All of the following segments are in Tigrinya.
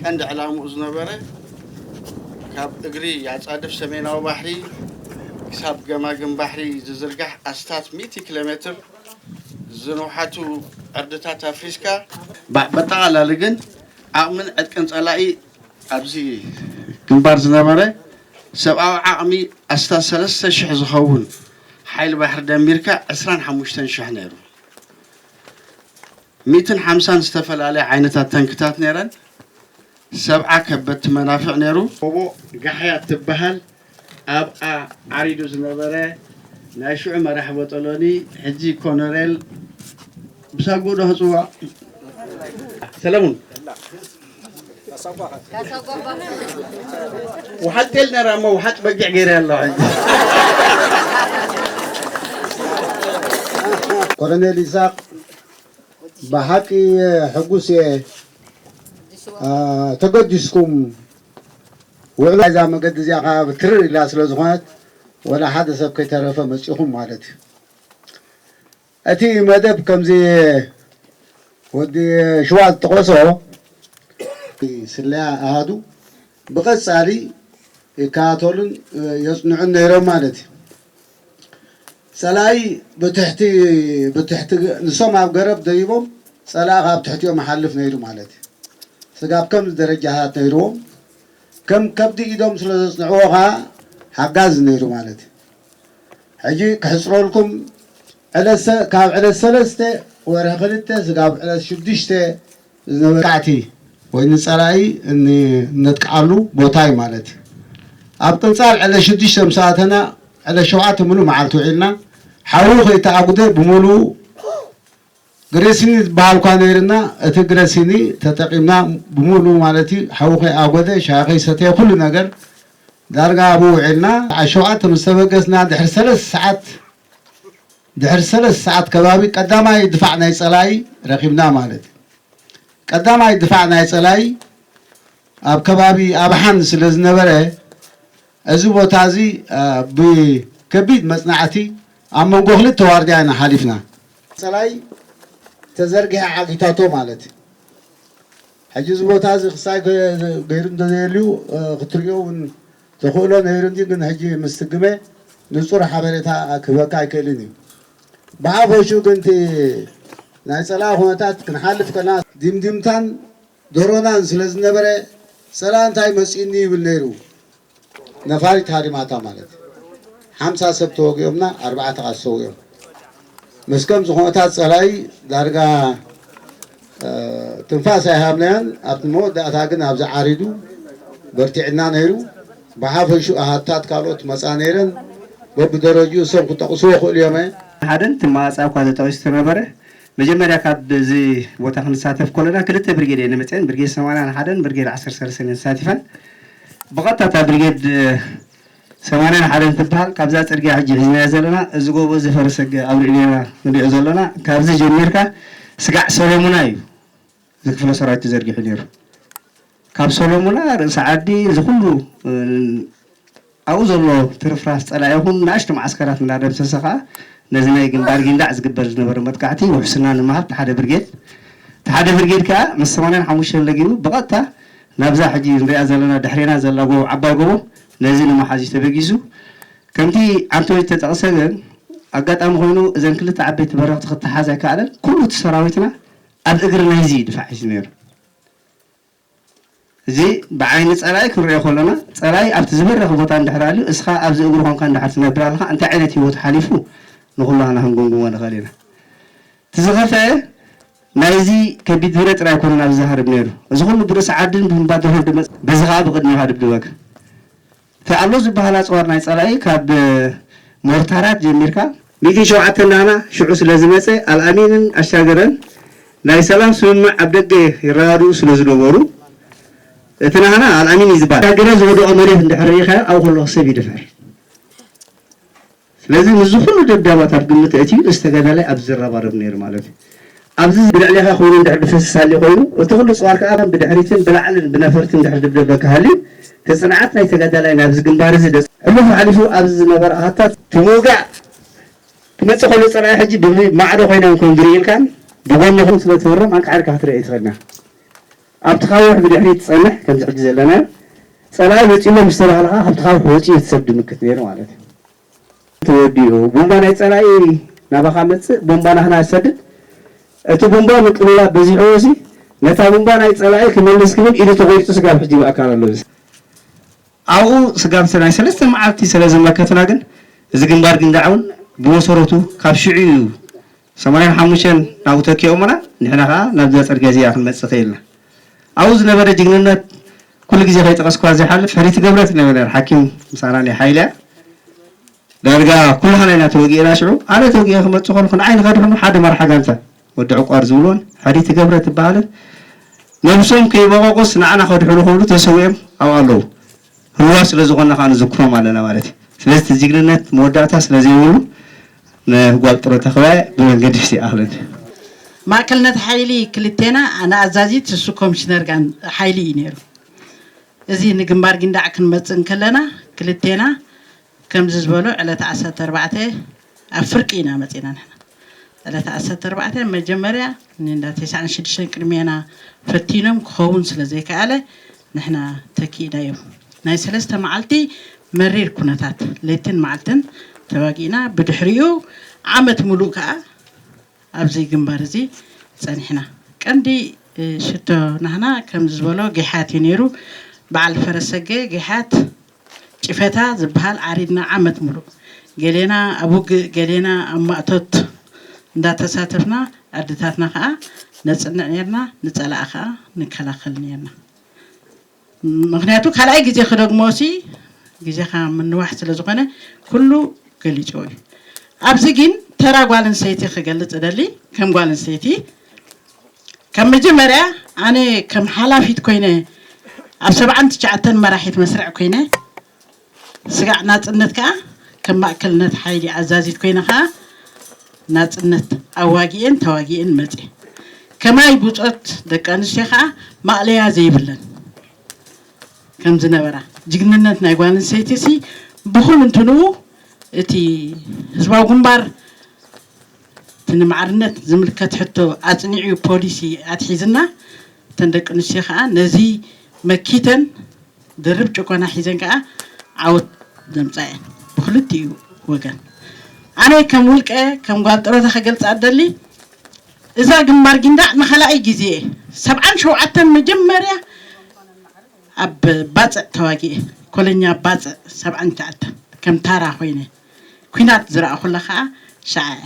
ቀንዲ ዕላምኡ ዝነበረ ካብ እግሪ ኣፃድፍ ሰሜናዊ ባሕሪ ክሳብ ገማግም ባሕሪ ዝዝርጋሕ ኣስታት ሚእቲ ኪሎ ሜትር ዝንውሓቱ ዕርድታት ኣፍሪስካ፣ በጠቓላሊ ግን ዓቕምን ዕጥቅን ፀላኢ ኣብዚ ግንባር ዝነበረ ሰብኣዊ ዓቕሚ ኣስታት ሰለስተ ሽሕ ዝኸውን ሓይሊ ባሕሪ ደሚርካ ዕስራን ሓሙሽተን ሽሕ ነይሩ። ሚእትን ሓምሳን ዝተፈላለያ ዓይነታት ተንክታት ነይረን፣ ሰብዓ ከበድቲ መናፍዕ ነይሩ። ጎቦ ጋሕያ እትበሃል ኣብኣ ዓሪዱ ዝነበረ ናይ ሽዑ መራሒ ቦጦሎኒ፣ ሕጂ ኮነሬል ብሳጉኡዶ ክጽዋዕ? ሰለሙን። ውሓጥ ጤል ነራ እሞ ውሓጥ በጊዕ ገይረ ኣለዋ ሕጂ ኮሎኔል ኢሳቅ ብሓቂ ሕጉስ እየ ተገዲስኩም ውዕሎ እዛ መገዲ እዚኣ ከዓ ትርር ኢላ ስለ ዝኾነት ወላ ሓደ ሰብ ከይተረፈ መፂኹም ማለት እዩ እቲ መደብ ከምዚ ወዲ ሽዋ ዝጠቐሶ ናይ ስለያ ኣሃዱ ብቐጻሊ ይከታተሉን የጽንዑን ነይሮም ማለት እዩ። ጸላኢ ብትሕቲ ብትሕቲ ንሶም ኣብ ገረብ ደይቦም ጸላኢ ካብ ትሕቲኦም ይሓልፍ ነይሩ ማለት እዩ። ስጋብ ከምዚ ደረጃታት ነይርዎም ከም ከብዲ ኢዶም ስለ ዘጽንዕዎ ከኣ ሓጋዚ ነይሩ ማለት እዩ። ሕጂ ክሕጽረልኩም ዕለት ካብ ዕለት ሰለስተ ወርሒ ክልተ ስጋብ ዕለት ሽዱሽተ ዝነበረ መጥቃዕቲ ወይ ንጸላኢ እነጥቅዓሉ ቦታ እዩ ማለት እዩ። ኣብ ቅንጻል ዕለት ሽዱሽተ ምስ ኣተና ዕለት ሸውዓተ ምሉእ መዓልቲ ውዒልና ሓዊ ከይተኣጉደ ብምሉኡ ግሪሲኒ ዝበሃል እኳ ነይርና እቲ ግረሲኒ ተጠቂምና ብሙሉኡ ማለት እዩ ሓዊ ከይኣጎደ ሻሂ ከይሰተየ ኩሉ ነገር ዳርጋ ኣብኡ ውዒልና ሰዓት ሸውዓተ ምስ ተበገስና ድሕሪ ሰለስተ ሰዓት ድሕሪ ሰለስተ ሰዓት ከባቢ ቀዳማይ ድፋዕ ናይ ፀላኢ ረኪብና ማለት እዩ ቀዳማይ ድፋዕ ናይ ፀላኢ ኣብ ከባቢ ኣብሓን ስለ ዝነበረ እዚ ቦታ እዚ ብከቢድ መጽናዕቲ ኣብ መንጎ ክልተ ዋርድያ ኢና ሓሊፍና። ጸላኢ ተዘርጊሐ ዓጊታቶ ማለት እዩ። ሕጂ እዚ ቦታ እዚ ክሳይ ገይሩ እንተዘየልዩ ክትርእዮ እውን ተኽእሎ ነይሩ እንድዩ፣ ግን ሕጂ ምስ ትግመ ንጹር ሓበሬታ ክህበካ ኣይክእልን እዩ። ብሓፈሽኡ ግን እቲ ናይ ጸላኢ ኩነታት ክንሓልፍ ከለና ዲምዲምታን ገሮናን ስለ ዝነበረ ሰላንታይ መጺኡኒ ይብል ነይሩ ነፋሪት ሃሪማታ ማለት ሓምሳ ሰብ ተወጊኦምና ኣርባዕተ ከኣ ሰዊኦም ምስ ከምዚ ኩነታት ጸላኢ ዳርጋ ትንፋስ ኣይሃብናዮን ኣብቲ መወዳእታ ግን ኣብዚ ዓሪዱ በርቲዕና ነይሩ ብሓፈሽኡ ኣሃዱታት ካልኦት ክመጻ ነይረን በብደረጅኡ እሶም ክጠቕሱ ይኽእሉ እዮም'የ ሓደን እቲ ማኣጻ እኳ ተጠቒሱ ተነበረ። መጀመርያ ካብ እዚ ቦታ ክንሳተፍ ከሎና ክልተ ብርጌድ እየን መፅኤን ብርጌድ ሰማንያን ሓደን ብርጌድ ዓሰርተ ሰለስተን እየን ተሳቲፈን ብቐጥታ እታ ብርጌድ ሰማንያን ሓደን ትበሃል ካብዛ ፅርግያ ሕጂ ሒዝናያ ዘለና እዚ ጎቦ እዚ ፈረሰገ ኣብ ልዕሌና ንሪኦ ዘሎና ካብዚ ጀሚርካ ስጋዕ ሰሎሙና እዩ እዚ ክፍለ ሰራዊት ተዘርጊሑ ነይሩ። ካብ ሰሎሙና ርእሲ ዓዲ እዚ ኩሉ ኣብኡ ዘሎ ትርፍራፍ ፀላኢ ይኹን ናእሽቱ መዓስከራት እንዳደምሰሰ ከዓ ነዚ ናይ ግንባር ጊንዳዕ ዝግበር ዝነበረ መጥቃዕቲ ውሕስና ንምሃብ እቲ ሓደ ብርጌድ እቲ ሓደ ብርጌድ ከዓ ምስ ሰማንያን ሓሙሽተን ለጊቡ ብቐጥታ ናብዛ ሕጂ ንሪኣ ዘለና ድሕሬና ዘላ ጎቦ ዓባይ ጎቦ ነዚ ንምሓዝ እዩ ተበጊሱ። ከምቲ ዓንተወይ ዝተጠቕሰ ግን ኣጋጣሚ ኮይኑ እዘን ክልተ ዓበይቲ በረኽቲ ክተሓዝ ኣይከኣለን። ኩሉ እቲ ሰራዊትና ኣብ እግሪ ናይዚ ድፋዕ ሒዙ ነይሩ። እዚ ብዓይኒ ጸላኢ ክንርእዮ ከሎና፣ ጸላኢ ኣብቲ ዝበረኸ ቦታ እንድሕር ኣልዩ፣ እስኻ ኣብዚ እግሩ ኮንካ እንድሕር ትነብር ኣለኻ፣ እንታይ ዓይነት ህይወት ሓሊፉ ንኹላህና ክንግምግሞ ንኽእል ኢና። እቲ ዝኸፍኤ ናይዚ ከቢድ ብረት ጥራይ ኣይኮነን ኣብዚ ዝሃርብ ነይሩ፣ እዚ ኩሉ ብርእሲ ዓድን ብምባድር ህንዲ መጽ። በዚ ከኣ ብቕድሜኻ እድብድበካ። እቲ ኣሎ ዝበሃል ኣጽዋር ናይ ጸላኢ ካብ ሞርታራት ጀሚርካ፣ ሚግ ሸውዓተ ናህና ሽዑ ስለዝመጸ ኣልኣሚንን ኣሻገረን ናይ ሰላም ስምምዕ ኣብ ደገ ይረዳድኡ ስለዝነበሩ እቲ ናህና ኣልኣሚን እዩ ዝበሃል። ኣሻገረ ዝወደቖ መሬት እንድሕር ርኢኻዮ ኣብኡ ከለኹ ሰብ ይድፈር። ስለዚ ንዚ ኩሉ ደብዳባት ኣብ ግምት ኣእትዩ ምስ ተጋዳላይ ኣብዚ ዝረባረብ ነይሩ ማለት እዩ። ኣብዚ ብልዕሌኻ ኮይኑ እንድሕር ድፈስስ ሃልዩ ኮይኑ እቲ ኩሉ ጽዋር ከኣ ብድሕሪትን ብላዕልን ብነፈርትን እንድሕር ድብደበካ ሃልዩ እቲ ጽንዓት ናይ ተጋዳላይ ናብዚ ግንባር እዚ ሕሉፉ ሓሊፉ ኣብዚ ዝነበረ ኣሃታት ብምውጋእ ክመጽእ ከሎ ጸላኢ ሕጂ ብማዕዶ ኮይናም ከም ዝርእልካን ብጎንኹም ስለ ትህሮም ኣንቃዕሪርካ ክትርእይ ኣይትኽእልንያ። ኣብቲ ካውሕ ብድሕሪት ትጸንሕ ከምዚ ሕጂ ዘለናዮ ጸላኢ መጺኡ'ሎ ምስ ተባህለ ከኣ ካብቲ ካውሕ ወጺኡ እቲ ሰብ ድምክት ነይሩ ማለት እዩ። ተወዲኡ ቡምባ ናይ ጸላኢ ናባኻ መጽእ ቡምባ ናህና ዝሰድድ እቲ ቡምባ ምቅልላብ በዚሕዎሲ ነታ ቡምባ ናይ ጸላኢ ክመልስ ክብል ኢዱ ተቆሪጹ ስጋብ ሕጂ ብኣካል ኣሎ እዚ ኣብኡ ስጋብ እቲ ናይ ሰለስተ መዓልቲ ሰለዝመከትና ግን እዚ ግንባር ግንዳዕ ውን ብመሰረቱ ካብ ሽዑ እዩ ሰማንያን ሓሙሽተን ናብኡ ተኪኦሙና ንሕና ከኣ ናብዛ ጽርግያ እዚኣ ክንመጽእ ክኢልና። ኣብኡ ዝነበረ ጅግንነት ኩሉ ግዜ ከይጠቐስክዋ ዘይሓልፍ ፈሪቲ ገብረ ትብለኒ ነይራ ሓኪም ምሳና ናይ ሓይሊ እያ። ዳርጋ ኩላህና ኢና ተወጊእና ሽዑ። ኣነ ተወጊኤ ክመጽእ ከልኩ ንዓይ ንኸድሕኑ ሓደ መራሒ ጋንታ ወዲ ዕቋር ዝብልዎን ፈሪቲ ገብረ ትብሃልን ነብሶም ከይበቐቑስ ንዓና ከድሕኑ ክብሉ ተሰዊኦም ኣብኡ ኣለዉ። ህዋ ስለ ዝኾና ከኣ ንዝክሮም ኣለና ማለት እዩ። ስለዚ እቲ ጅግንነት መወዳእታ ስለ ዘይብሉ ንጓል ጥሮታ ክበያ ብመንገዲ ፍትሒ ይኣኽለን። ማእከልነት ሓይሊ ክልቴና ንኣዛዚት ንሱ ኮምሽነር ሓይሊ እዩ ነይሩ። እዚ ንግንባር ጊንዳዕ ክንመጽእ እንከለና ክልቴና ከምዚ ዝበሉ ዕለተ ዓሰርተ ኣርባዕተ ኣብ ፍርቂ ኢና መጺና ንሕና ዕለተ ዓሰርተ ኣርባዕተ መጀመርያ ንእንዳ ተስዓን ሽዱሽተን ቅድሜና ፈቲኖም ክኸውን ስለ ዘይከኣለ ንሕና ተኪእናዮም ናይ ሰለስተ መዓልቲ መሪር ኩነታት ለይትን መዓልትን ተዋጊእና ብድሕሪኡ ዓመት ምሉእ ከኣ ኣብዚ ግንባር እዚ ጸኒሕና ቀንዲ ሽቶ ናህና ከምዚ ዝበሎ ጌሓት እዩ ነይሩ በዓል ፈረሰገ ጌሓት ጭፈታ ዝብሃል ዓሪድና ዓመት ሙሉእ ገሌና ኣብ ውግእ ገሌና ኣብ ማእቶት እንዳተሳተፍና ኣደታትና ከኣ ነጽንዕ ኔርና ንጸላኢ ከኣ ንከላኸል ኔርና ምኽንያቱ ካልኣይ ግዜ ክደግሞሲ ግዜኻ ምንዋሕ ስለ ዝኾነ ኩሉ ገሊጽዎ እዩ ኣብዚ ግን ተራ ጓል ኣንስተይቲ ክገልጽ እደሊ ከም ጓል ኣንስተይቲ ካብ መጀመርያ ኣነ ከም ሓላፊት ኮይነ ኣብ ሰብዓን ትሽዓተን መራሒት መስርዕ ኮይነ ስጋዕ ናጽነት ከኣ ከም ማእከልነት ሓይሊ ኣዛዚት ኮይነ ከኣ ናጽነት ኣዋጊኤን ተዋጊኤን መጽየ ከማይ ቡጾት ደቂ ኣንስትዮ ከኣ ማእለያ ዘይብለን ከም ዝነበራ ጅግንነት ናይ ጓል ኣንስተይቲ ሲ ብኹምንትንኡ እቲ ህዝባዊ ግንባር እቲ ንማዕርነት ዝምልከት ሕቶ ኣፅኒዑ ፖሊሲ ኣትሒዝና እተን ደቂ ኣንስትዮ ከዓ ነዚ መኪተን ድርብ ጭቆና ሒዘን ከዓ ዓወት ዘምፅኣ እየን ብክልቲኡ ወገን። ኣነ ከም ውልቀ ከም ጓል ጥሮታ ክገልፃ እደሊ እዛ ግንባር ጊንዳዕ ንካልኣይ ግዜ እየ ሰብዓን ሸውዓተን መጀመርያ ኣብ ባፅዕ ተዋጊኤ ኮለኛ ባፅዕ ሰብዓን ትሽዓተን ከም ታራ ኮይነ ኲናት ዝረኣኹላ ከኣ ሸዓ እያ።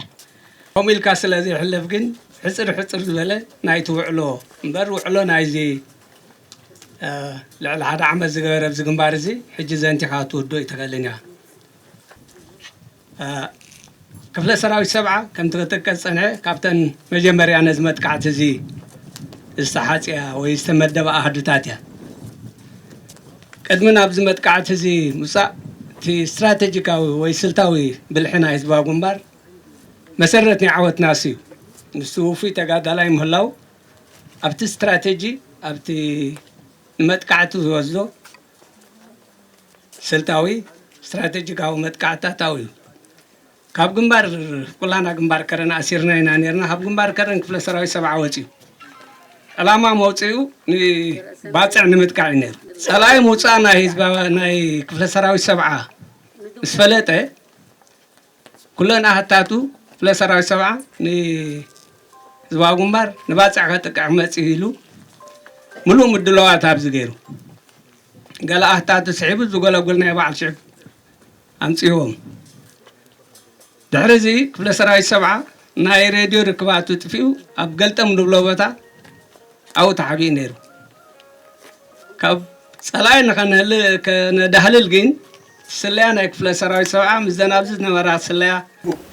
ከምኡ ኢልካ ስለ ዘይሕለፍ ግን ሕጽር ሕጽር ዝበለ ናይቲ ውዕሎ እምበር ውዕሎ ናይዚ ልዕሊ ሓደ ዓመት ዝገበረ ኣብዚ ግንባር እዚ ሕጂ ዘንቲኻ ክትውድኦ ኣይትኽእልን ኢኻ። ክፍለ ሰራዊት ሰብዓ ከምቲ ክጥቀስ ዝጸንሐ ካብተን መጀመርያ ነዚ መጥቃዕቲ እዚ ዝተሓጽያ ወይ ዝተመደባ ኣሃዱታት እያ። ቅድሚ ናብዚ መጥቃዕቲ እዚ ምውጻእ እቲ ስትራተጂካዊ ወይ ስልታዊ ብልሒ ናይ ህዝባዊ ግንባር መሰረት ናይ ዓወትናስ እዩ። ንሱ ውፉይ ተጋዳላይ ምህላው ኣብቲ ስትራተጂ ኣብቲ ንመጥቃዕቲ ዝወስዶ ስልታዊ ስትራተጂካዊ መጥቃዕትታት ኣውዩ። ካብ ግንባር ኩላና ግንባር ከረን ኣሲርና ኢና ኔርና ካብ ግንባር ከረን ክፍለ ሰራዊት ሰብዓ ወጺኡ ዕላማ መውጽኡ ንባጽዕ ንምጥቃዕ እዩ ነይሩ ጸላኢ ምውጻእ ናይ ህዝባ ናይ ክፍለ ሰራዊት ሰብዓ ምስ ፈለጠ ኩለን ኣሃታቱ ክፍለ ሰራዊት ሰብዓ ንህዝባዊ ግንባር ንባጽዕ ከጥቅዕ ክመጽእ እዩ ኢሉ ምሉእ ምድለዋት ኣብዚ ገይሩ ገለ ኣህታቱ ስሒቡ ዝጎለጉል ናይ በዓል ሽዕብ ኣምጺእዎም። ድሕሪዚ ክፍለ ሰራዊት ሰብዓ ናይ ሬድዮ ርክባቱ ጥፊኡ ኣብ ገልጠም ንብሎ ቦታ ኣብኡ ተሓቢኡ ነይሩ። ካብ ጸላኢ ንኸነዳህልል ግን ስለያ ናይ ክፍለ ሰራዊት ሰብዓ ምስዘን ኣብዚ ዝነበራ ስለያ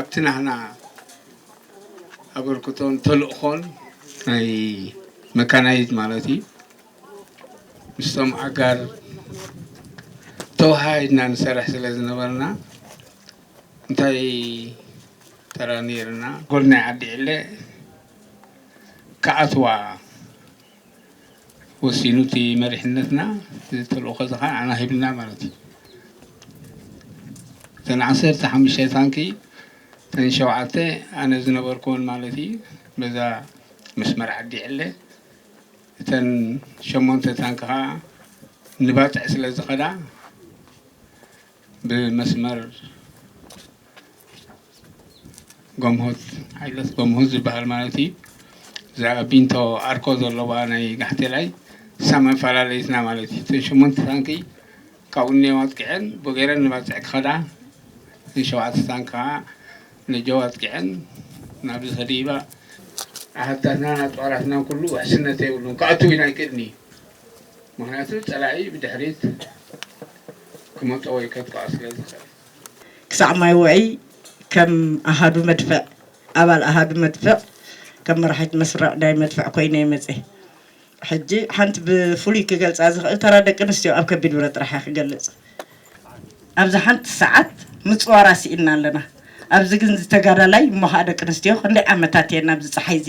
ኣብቲ ናህና ኣበርክቶን ተልእኾን ናይ መካናይዝ ማለት እዩ ምስቶም ኣጋር ተወሃሂድና ንሰርሕ ስለ ዝነበርና እንታይ ተራ ነይርና ጎል ናይ ዓዲ ዕለ ክኣትዋ ወሲኑ እቲ መሪሕነትና እቲ ተልእኾ እዚ ከዓ ንዓና ሂቡና ማለት እዩ። እተን ዓሰርተ ሓሙሽተ ታንኪ እተን ሸውዓተ ኣነ ዝነበርኩወን ማለት እዩ በዛ መስመር ዓዲ ዕለ እተን ሸሞንተ ታንኪ ከዓ ንባጥዕ ስለ ዝኸዳ ብመስመር ጎምሆት ዓይለት ጎምሆት ዝበሃል ማለት እዩ እዛ ቢንቶ ኣርኮ ዘለዋ ናይ ጋሕቴላይ እሳ መፈላለይትና ማለት እዩ እተን ሸሞንተ ታንኪ ካብኡ እኒኦ ኣጥቂዐን ብገረን ንባፅዕ ክኸዳ እተን ሸውዓተ ታንኪ ከዓ ነጀው ኣጥቂዐን ናብዚ ተድሂባ ኣሃዱታትናን ኣፅዋራትናን ኩሉ ውሕስነት የብሉን ክኣትው እውን ኣይክእልን እዩ ምኽንያቱ ፀላኢ ብድሕሪት ክመፆ ወይ ከጥቅዖ ስለዝኽእል። ክሳዕ ማይ ውዕይ ከም ኣሃዱ መድፍዕ ኣባል ኣሃዱ መድፍዕ ከም መራሒት መስርዕ ናይ መድፍዕ ኮይነ እየ መፅየ። ሕጂ ሓንቲ ብፍሉይ ክገልፃ ዝኽእል ተራ ደቂ ኣንስትዮ ኣብ ከቢድ ብረት ጥራሕ እየ ክገልፅ። ኣብዚ ሓንቲ ሰዓት ምፅዋራ ስኢንና ኣለና። ኣብዚ ግን እዚ ተጋዳላይ እሞ ኻዓ ደቂ ኣንስትዮ ክንደይ ዓመታት እየን ኣብዚ ፀሓይ እዚ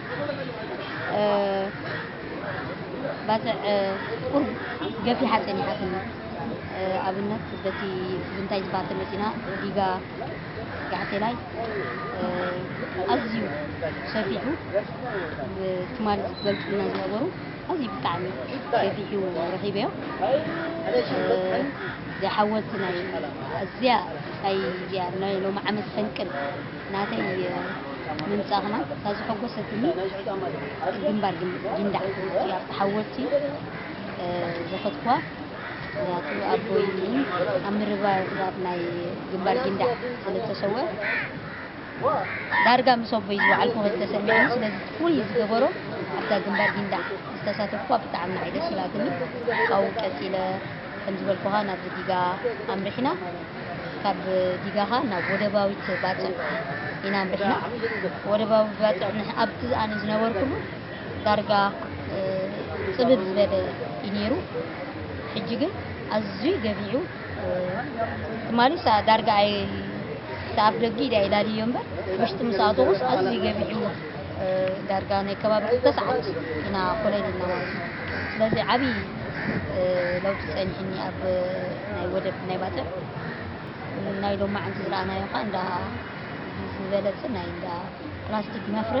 ባጽዕ ቁርብ ገፊሓ ጸኒሓትኒ። ኣብነት በቲ ብንታይ ዝበሃል ተመጺና ዲጋ ጋሕቴላይ ኣዝዩ ሰፊሑ ትማል ዝገልጹልና ዝነበሩ ኣዝዩ ብጣዕሚ ገፊሑ ረኺበዮ ዘይሓወልቲ ናይ ኣዝያ ናይ ሎሚ ዓመት ፈንቅል ናተይ ምምጻእክና እታ ዘሐጎሰትኒ ግንባር ጊንዳዕ እቲ ኣብቲ ሓወልቲ ዘኸትክዋ ምክንያቱ ኣቦይ ኣብ ምርባርባር ናይ ግንባር ጊንዳዕ ስለ ዝተሰወ ዳርጋ ምስ ኣቦይ ዝወዓልኩ ከ ተሰሚዑኒ ስለዚ ፍሉይ ዝገበሮ ኣብዛ ግንባር ጊንዳዕ ዝተሳተፍኩዋ ብጣዕሚ ንዓይ ደስ ኢላትኒ ካብኡ ቀጺለ ከም ዝበልኩኻ ናብዚ ዲጋ ኣምሪሕና ካብ ዲጋኻ ናብ ወደባዊት ባጽዕ ኢና ምሪሕና ወደባዊ ባጽዕ ኣብቲ ኣነ ዝነበርኩሉ ዳርጋ ጽብብ ዝበለ እዩ ነይሩ ሕጂ ግን ኣዝዩ ገቢዑ ትማሊ ዳርጋ ኣይ ተኣፍ ደጊ ኢዳ ኢላልዮ እምበር ውሽጢ ምስ ኣተኹስ ኣዝዩ ገቢዑ ዳርጋ ናይ ከባቢ ክልተ ሰዓት ኢና ኮለል ኢልና ማለት እዩ። ስለዚ ዓብዪ ለውጢ ጸኒሕኒ ኣብ ናይ ወደብ ናይ ባጽዕ ናይ ሎማዕንቲ ዝረኣናዮ ከዓ እንዳ ዝበለጸ ናይ እንዳ ፕላስቲክ መፍረ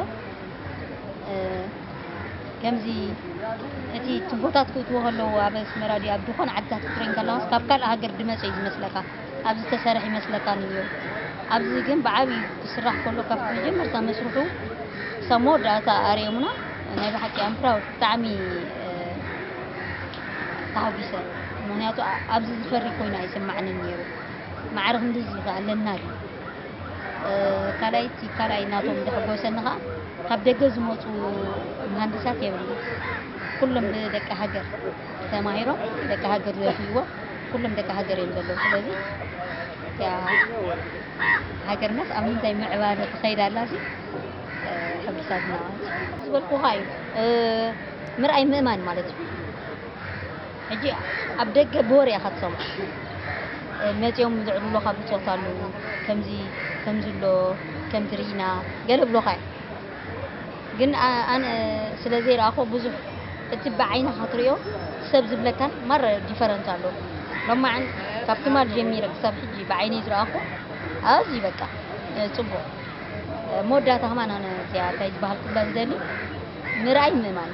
ከምዚ እቲ ትቦታት ክእትዎ ከለዎ ኣብ ኣስመራ ድዩ ኣብ ዝኾነ ዓድታት ክትሪኤን ከለኻስ ካብ ካልእ ሃገር ድመጸ እዩ ዝመስለካ ኣብ ዝተሰርሕ ይመስለካ ንዮ ኣብዚ ግን ብዓብዩ ክስራሕ ከሎ ካብ መጀመርታ መስርሑ ክሳብ መወዳእታ ኣርዮሙና ናይ ብሓቂ ኣም ፕራውድ ብጣዕሚ ተሃጒሰ ምክንያቱ ኣብዚ ዝፈሪ ኮይኑ ኣይስማዕንን ነይሩ ማዕረ ክንዲዚ ከ ኣለና ድዩ ካልኣይ እቲ ካልኣይ ናቶም ዘሕጎሰኒ ከዓ ካብ ደገ ዝመፁ መሃንድሳት የብልና ኩሎም ብደቂ ሃገር ተማሂሮም ደቂ ሃገር ዘፍይዎ ኩሎም ደቂ ሃገር እዮም ዘለዉ ስለዚ ሃገርናስ ኣብ ምንታይ ምዕባለ ትኸይድ ኣላ ሲ ሕጉሳትና ዝበልኩኻ እዩ ምርኣይ ምእማን ማለት እዩ ሕጂ ኣብ ደገ ብወር ኢኻ ትሰምዖ መፂኦም ዝዕልሎኻ ብፆት ኣለዉ ከምዚ ከምዚ ኣሎ ከምዚ ርኢና ገለ ብሎኻ እዩ ግን ኣነ ስለ ዘይረኣክዎ ብዙሕ እቲ ብዓይንካ ትሪኦ ሰብ ዝብለካን ማራ ዲፈረንት ኣሎ ሎማዓንቲ ካብ ትማል ጀሚረ ክሳብ ሕጂ ብዓይነይ ዝረኣክዎ ኣዝዩ በቃ ጽቡቅ መወዳእታ ከማን ኣነ እዚኣ ታይ ዝበሃል ክብላ ዝደሊ ምርኣይ ምእማን።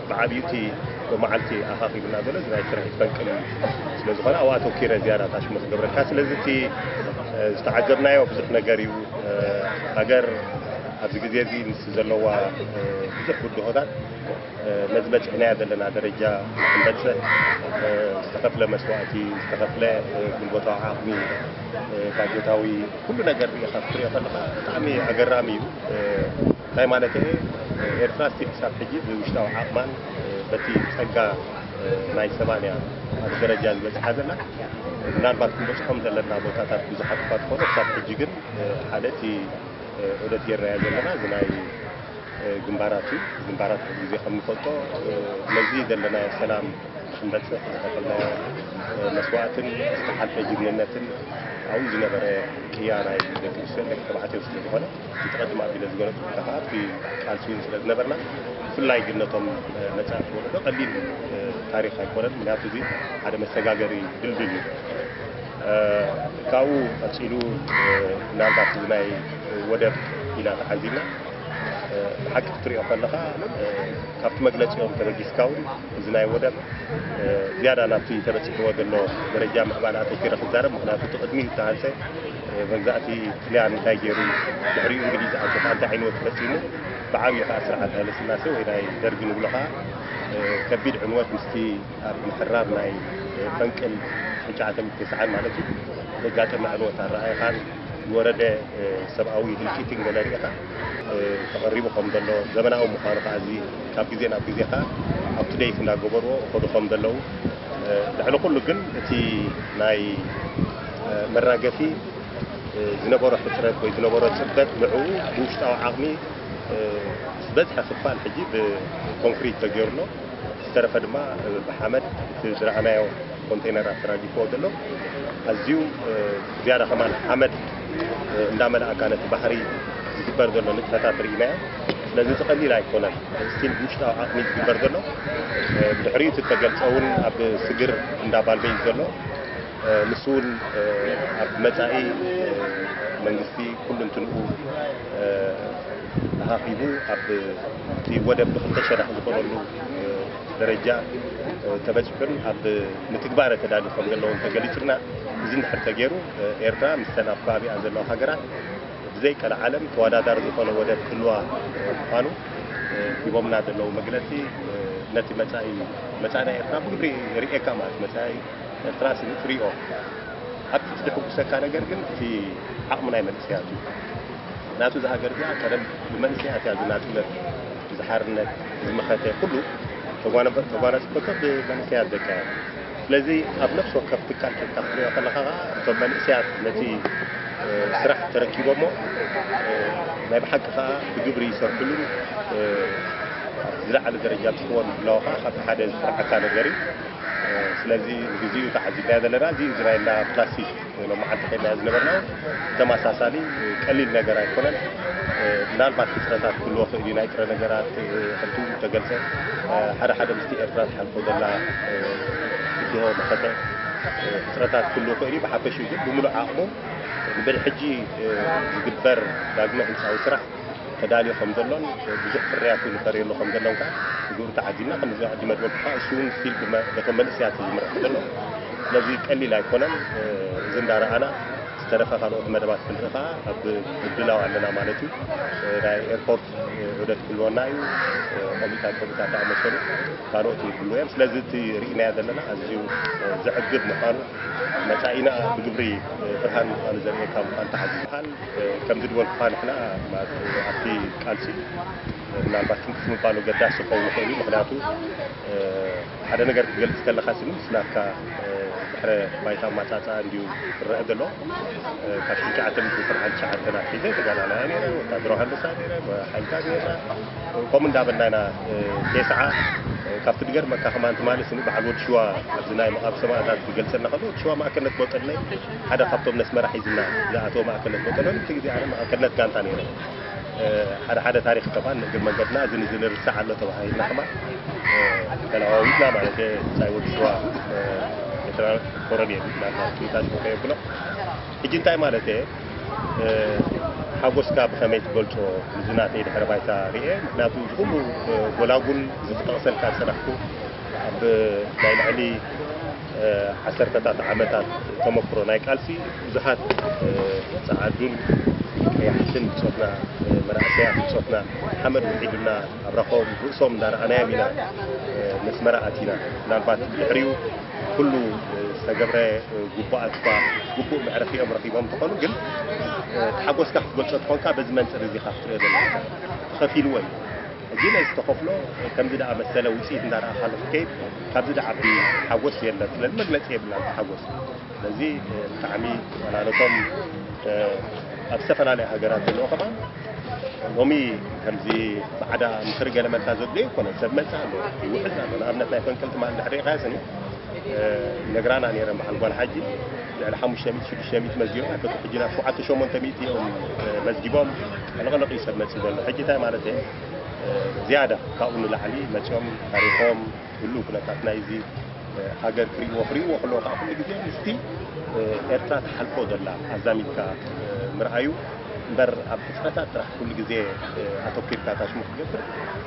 ብዓብዩ እቲ መዓልቲ ኣኻኺብ እናበለ ናይ ስርሒት ፈንቅል ስለ ዝኾነ ኣብኡ ኣተኪረ ዝያዳ ታሽሙ ክገብረካ ስለዚ እቲ ዝተዓዘብናዮ ብዙሕ ነገር እዩ ሃገር ኣብዚ ግዜ እዚ ምስ ዘለዋ ብዙሕ ብድሆታት ነዚ በፂሕናዮ ዘለና ደረጃ ክንበፅሕ ዝተኸፍለ መስዋእቲ ዝተኸፍለ ጉልበታዊ ዓቕሚ ባጀታዊ ኩሉ ነገር ሪኢኻ ክትሪኦ ከለኻ ብጣዕሚ ኣገራሚ እዩ እንታይ ማለተይ እየ ኤርትራ እስቲ ክሳብ ሕጂ ብውሽጣዊ ዓቕማን በቲ ጸጋ ናይ ሰባን እያ ኣብ ደረጃ ዝበጽሓ ዘላ ምናልባት ክንበጽሖም ዘለና ቦታታት ብዙሓት እኳ ትኾኑ ክሳብ ሕጂ ግን ሓደ እቲ ዑደት ጌርናዮ ዘለና እዚ ናይ ግንባራት እዩ ግንባራት ሕዚ ግዜ ከም ንፈልጦ ነዚ ዘለናዮ ሰላም ክንበፅሕ ዝተኸልናዮ መስዋእትን ዝተሓልፈ ጅግንነትን ኣብኡ ዝነበረ ቅያ ናይ ደቂ ኣንስትዮ ደቂ ተባዕትዮ ስለ ዝኾነ እቲ ቀድም ኣቢለ ዝገለፅኩልካ ከዓ ኣብቲ ቃልሲ እውን ስለ ዝነበርና ብፍላይ ግን ነቶም መፃእቲ ወለዶ ቀሊል ታሪኽ ኣይኮነን። ምክንያቱ እዚ ሓደ መሰጋገሪ ድልድል እዩ። ካብኡ ቀፂሉ ምናልባት እዚ ናይ ወደብ ኢና ተዓዚብና ብሓቂ ክትሪኦ ከለኻ ካብቲ መግለፂኦም ተበጊስካ እውን እዚ ናይ ወደብ ዝያዳ ናብቲ ተበፂሕዎ ዘሎ ደረጃ ምዕባለ ኣተኪረ ክዛረብ ምክንያቱ እቲ ቅድሚኡ ዝተሃንፀ መግዛእቲ ጥልያን እንታይ ገይሩ ድሕሪኡ እንግሊዝ ኣብ ጥቃ እንታይ ዕንወት ፈፂሙ ብዓብዪ ከዓ ስርዓት ሃይለስላሴ ወይ ናይ ደርጊ ንብሎ ከዓ ከቢድ ዕንወት ምስቲ ኣብ ምሕራር ናይ ፈንቅል ትሽዓተ ሚእቲ ተስዓን ማለት እዩ ዘጋጠመ ዕንወት ኣረኣእኻን ዝወረደ ሰብኣዊ ህልቂትን ገለ ሪኢኻ ተቐሪቡ ከም ዘሎ ዘመናዊ ምዃኑ ከዓ እዚ ካብ ግዜ ናብ ግዜ ከዓ ኣብቲ ደይት እንዳገበርዎ እኸዱ ከም ዘለዉ ልዕሊ ኩሉ ግን እቲ ናይ መራገፊ ዝነበሮ ሕፅረት ወይ ዝነበሮ ፅበት ንዕኡ ብውሽጣዊ ዓቕሚ ዝበዝሐ ክፋል ሕጂ ብኮንክሪት ተገይሩ ኣሎ ዝተረፈ ድማ ብሓመድ እቲ ዝረኣናዮ ኮንቴነራት ተራጊፍዎ ዘሎ ኣዝዩ ዝያዳ ከማን ሓመድ እንዳመልኣካ ነቲ ባሕሪ ዝግበር ዘሎ ንጥፈታት ርኢናዮ ስለዚ እቲ ቀሊል ኣይኮነን ስቲል ብውሽጣዊ ዓቕሚ ዝግበር ዘሎ ብድሕሪኡ እቲ ተገልፀ እውን ኣብ ስግር እንዳባልበይ ዘሎ ንሱውን ኣብ መጻኢ መንግስቲ ኩሉንትንኡ ተኻኺቡ ኣብቲ ወደብ ብክልተ ሸነኽ ዝኾነሉ ደረጃ ተበጺሑን ኣብ ምትግባረ ተዳሊ ከም ዘለዎን ተገሊጹልና እዚ እንድሕር ተገይሩ ኤርትራ ምስተን ኣብ ከባቢኣ ዘለዋ ሃገራት ብዘይ ቀልዓለም ተወዳዳሪ ዝኾነ ወደብ ክህልዋ ምዃኑ ሂቦምና ዘለዉ መግለጺ ነቲ መጻኢ መጻኢና ኤርትራ ብግብሪ የርእየካ ማለት መጻኢ ኤርትራ ስኒ ትሪኦ ኣብቲ ዝድሕጉሰካ ነገር ግን እቲ ዓቕሚ ናይ መንእሰያት እዩ ናቱ እዛ ሃገር እዚኣ ቀደም ብመንእሰያት እያ ዝናጽነት ዝሓርነት ዝመኸተ ኩሉ ተጓናጽፈቶ ብመንእሰያት ደቃ እያ ስለዚ ኣብ ነፍሲ ወከፍ ትካል ኬድካ ክትሪኦ ከለኻ ከዓ እቶም መንእሰያት ነቲ ስራሕ ተረኪቦሞ ናይ ብሓቂ ከዓ ብግብሪ ይሰርሕሉን ዝለዓለ ደረጃ ብፅሕዎ ምህላዉ ከዓ ካብቲ ሓደ ዝፍርሓካ ነገር እዩ ስለዚ ግዚኡ ተዓዚብናዮ ዘለና እዚ እዝራኤል ዳኣ ክላሲክ ሎማዓንቲ ከድናዮ ዝነበርና ተማሳሳሊ ቀሊል ነገር ኣይኮነን ምናልባት ሕፅረታት ክህልዎ ክእል እዩ ናይ ጥረ ነገራት ከምቲ ተገልፀ ሓደ ሓደ ምስቲ ኤርትራ ትሓልፎ ዘላ ብድሆ መኸተ ሕፅረታት ክህልዎ ክእል እዩ ብሓፈሽኡ ግን ብምሉእ ዓቕሙ ብድሕጂ ዝግበር ዳግመ ህንፃዊ ስራሕ ተዳልዩ ከም ዘሎን ብዙሕ ፍርያት እውን ፈርየሉ ከም ዘሎን ከዓ ብግብሪ ተዓዚብና ከምዚ ሕጂ መድበብ ከዓ እሱ እውን ስቲል በቶም መንእሰያት እዩ ዝምራሕ ዘሎ ስለዚ ቀሊል ኣይኮነን እዚ እንዳረኣና ዝተረፈ ካልኦት መደባት ክንርኢ ከዓ ኣብ ምድላው ኣለና ማለት እዩ ናይ ኤርፖርት ዑደት ክህልወና እዩ ቆሚታት ቆሚታት ዝኣመሰሉ ካልኦት ይህልዎ እዮም ስለዚ እቲ ርኢናዮ ዘለና ኣዝዩ ዘዕግብ ምዃኑ መፃኢና ብግብሪ ብርሃን ምዃኑ ዘርእየካ ምዃኑ ተዓዚብሃል ከምዚ ድበልኩኻ ንሕና ኣብቲ ቃልሲ ምናልባት ትንክፍ ምባል ኣገዳሲ ክኸውን ይኽእል እዩ ምክንያቱ ሓደ ነገር ክትገልፅ ከለካ ስኒ ምስ ናትካ ድሕረ ባይታ ኣማፃፅኣ እንዲዩ ክረአ ዘሎ ካብ ሽዱሽተ ሚእቲ ትስዓን ትሽዓተን ኣትሒዘ ተጋዳላይ ነረ ወታደራዊ ሃንደሳ ነረ ሓይልታት ነርና ከምኡ እንዳበልና ኢና ቴስዓ ካብቲ ድገርመካ ከማን ትማሊ ስኒ በዓል ወዲ ሽዋ ኣብዚ ናይ መቓብ ሰማእታት ክገልፀልና ከሎ ወዲ ሽዋ ማእከነት ቦጠለይ ሓደ ካብቶም ነስመራ ሒዝና ዝኣተወ ማእከልነት ቦጠሎኒ እቲ ግዜ ኣነ ማእከልነት ጋንታ ነይረ ሓደ ሓደ ታሪክ ከማን ንእግር መንገድና እዚ ንዚ ንርሳዕ ኣሎ ተባሂልና ከማን ተለዋዊጥና ማለት ህንፃይ ወዲ ሽዋ ኤርትራ ኮረን እየ ናታ ቱታ ሽኮ የብሎ ሕጂ እንታይ ማለት እየ ሓጎስካ ብኸመይ ትገልጾ እዚ ናተይ ድሕረ ባይታ ርኤ ምክንያቱ እዚ ኩሉ ጎላጉል እዚ ክጠቕሰልካ ዝጸናሕኩ ኣብ ናይ ልዕሊ ዓሰርተታት ዓመታት ተመክሮ ናይ ቃልሲ ብዙሓት ጸዓዱን ቀያሕትን ብጾትና መናእሰያት ብጾትና ሓመድ ውሒዱና ኣብራኾም ርእሶም እንዳረኣናዮም ኢና መስመራ ኣቲና ምናልባት ድሕሪኡ ኩሉ ዝተገብረ ጉቡኣት እኳ ጉቡእ መዕረፊኦም ረኺቦም ትኾኑ ግን ተሓጎስካ ክትገልጾ ትኾንካ በዚ መንፅር እዚ ካ ክትሪኦ ዘለካ ተኸፊልዎ እዩ ጊለ ዝተኸፍሎ ከምዚ ድኣመሰለ ውፅኢት እንዳርኣኻሉ ክትከይድ ካብዚ ድዓቢ ሓጎስ የለን። ስለዚ መግለፂ የብላን እቲ ሓጎስ። ስለዚ ብጣዕሚ ዋላ ነቶም ኣብ ዝተፈላለያ ሃገራት ዘለዉ ከማን ሎሚ ከምዚ ባዕዳ ምኽሪ ገለ መልካ ዘድልዮ ኣይኮነን። ሰብ መፅእ ኣሎ ይውሕዝ ኣሎ። ንኣብነት ናይ ፈንቅል ትማል እንድሕር ሪእኻዮ ስኒ ነግራና ነይረን በዓል ጓል ሓጂ ልዕሊ ሓሙሽተ ሚእቲ ሽዱሽተ ሚእቲ መዝጊቦም ኣይፈቱ ሕጂ ናብ ሸውዓተ ሸሞንተ ሚእቲ እዮም መዝጊቦም ሕልቕልቕ እዩ ሰብ መጺኡ ዘሎ ሕጂ እንታይ ማለት እየ ዝያዳ ካብኡ ንላዕሊ መጺኦም ታሪኾም ህሉ ኩነታት ናይዚ ሃገር ክሪእዎ ክሪእዎ ከለዎ ከዓ ኩሉ ግዜ ምስቲ ኤርትራ ትሓልፎ ዘላ ኣዛሚድካ ምርኣዩ እምበር ኣብ ሕፅረታት ጥራሕ ኩሉ ግዜ ኣተኪርካ ታሽሙ ክገብር